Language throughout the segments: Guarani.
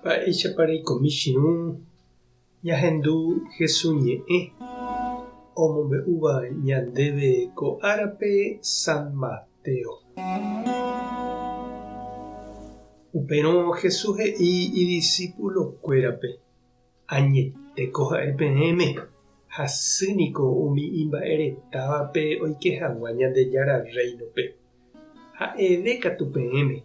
Mba'éichapa reiko michĩrũ ñahendu Jesús ñe'ẽ omombe'úva ñandéve ko árape San Mateo. Upérõ Jesús he'i idisipulokuérape, Añeteko ja'e peẽme, hasy niko umi imba'e retávape oike hag̃ua Ñandejára Rréinope. Ha'eve katu peẽme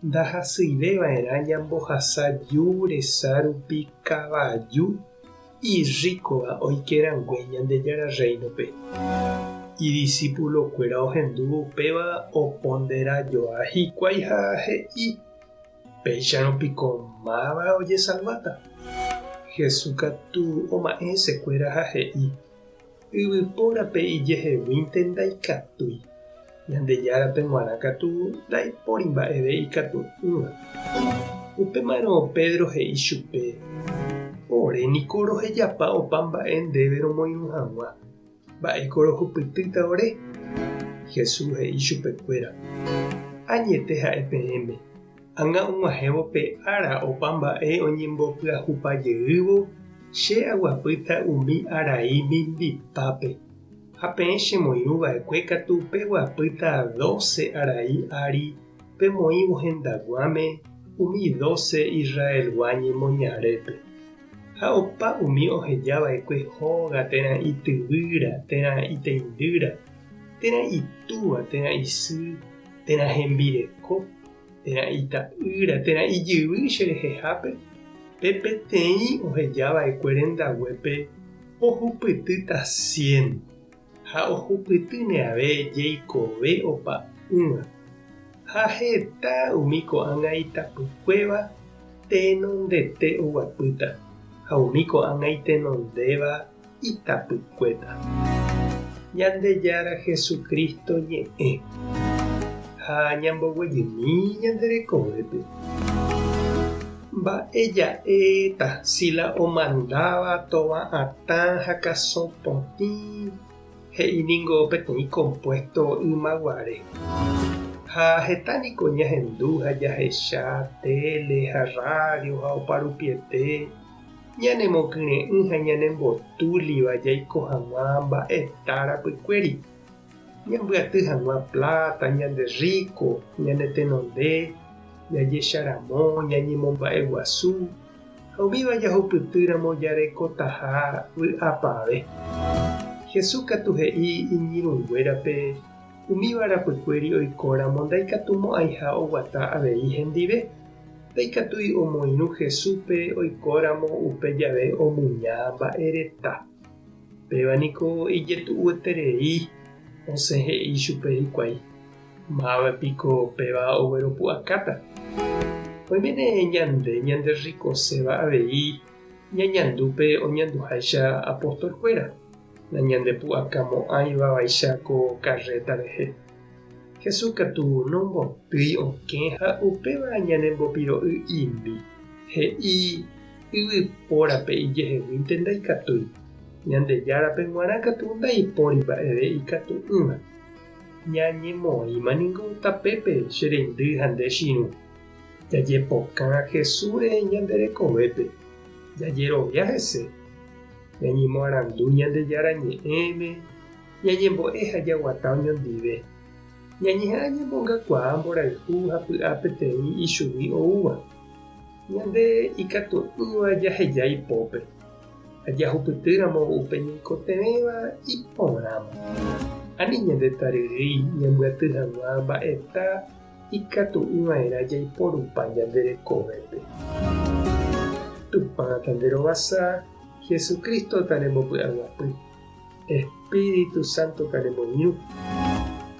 Ndahasyive va'erã ñambohasa ju resa rupi kavaju irríkova oike rangue Ñandejára Rréinope. Idisipulokuéra ohendúvo upéva oponderajoa hikuái ha he'i, Péicharõ piko máva ojesalváta? Jesús katu oma'ẽ hesekuéra ha he'i, Yvypórape ijeheguínte ndaikatúi, Ñandejárape g̃uarã katu ndaipóri mba'eve ikatu'ỹva. Upémarõ Pedro he'i chupe, Ore niko rohejapa opa mba'e ndéve romoirũ hag̃ua, mba'éiko rohupytýta ore? Jesús he'i chupekuéra, Añete ha'e peẽme, Ág̃a og̃uahẽvo pe ára opa mba'e oñembopyahupa jeývo, che aguapýta umi arai mimbipápe, ha peẽ chemoirũ va'ekue katu peguapýta dóce arai ári pemoĩvo hendaguãme umi dóce Israelgua ñemoñarépe. Ha opa umi oheja va'ekue hóga térã ityvýra, térã iteindýra, térã itúva, térã isy, térã hembireko, térã ita'ýra, térã ijyvy che rehehápe, pe peteĩ oheja va'ekue rendaguépe ohupytýta cien, ha ohupyty neave jeikove opa'ỹva. Ha heta umi ko'ág̃a itapykuéva tenondete oguapýta, ha umi ko'ág̃a itenondéva, itapykuéta. Ñandejára Jesucristo ñe'ẽ ha ñamboguejymi ñande rekovépe. Mba'e ja'éta si la omandáva tovã atã ha kasõ potĩ? He'i ningo peteĩ kompuésto ymaguare. Ha heta niko ñahendu ha jahecha téle ha rrádio ha oparupiete. ñanemokyre'ỹ ha ñanembotúliva jaiko hag̃ua mba'e ita rapykuéri, ñambyaty hag̃ua pláta, ñande rríko, ñanetenonde, jajecharamo, ñañemomba'eguasu, ha umíva jahupytýramo jarekotaha vy'apavẽ. Jesús katu he'i iñirũnguérape umíva rapykuéri oikóramo ndaikatumo'ãiha oguata avei hendive. Ndaikatúi omoirũ Jesúspe oikóramo upe jave omuña mba'e reta. Péva niko ijetu'ueterei osẽ he'i chupe hikuái, Máva piko péva ogueropu'akáta? Oiméne ñande ñanderrikoséva avei ñañandu pe oñanduháicha apóstolkuéra, nañandepu'akamo'ãi vavaicha ko karréta rehe. Jesús katu nombotýi okẽ ha upéva ñanembopiro'y imi. He'i, Yvypórape ijeheguínte ndaikatúi, Ñandejárape g̃uarã katu ndaipóri mba'eve ikatu'ỹva. Ñañemoĩma ningo tapépe che reindy ha nde chirũ. Jajepokã Jesúsre ñande rekovépe, jajerovia hese, ñañemoarandu Ñandejára Ñe'ẽme, Ñañembo'e ha jaguata oñondive. Ñañeha'ã ñamongakuaa mborayhu ha py'a peteĩ ichugui oúva. Ñande ikatu'ỹva jaheja ipópe ha jahupytýramo upe ñaikotevẽva iporãva. Ani ñandetaryrýi ñambyaty hag̃ua mba'eta ikatu'ỹva'erã jaiporupa ñande rekovépe. Tupãta nde rovasa, Jesucristo-ta nembopy'aguapy. Espíritu Santo kanemoirũ,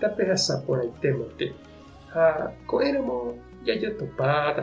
tapehasa porãite mante, ha ko'ẽramo jajotopáta.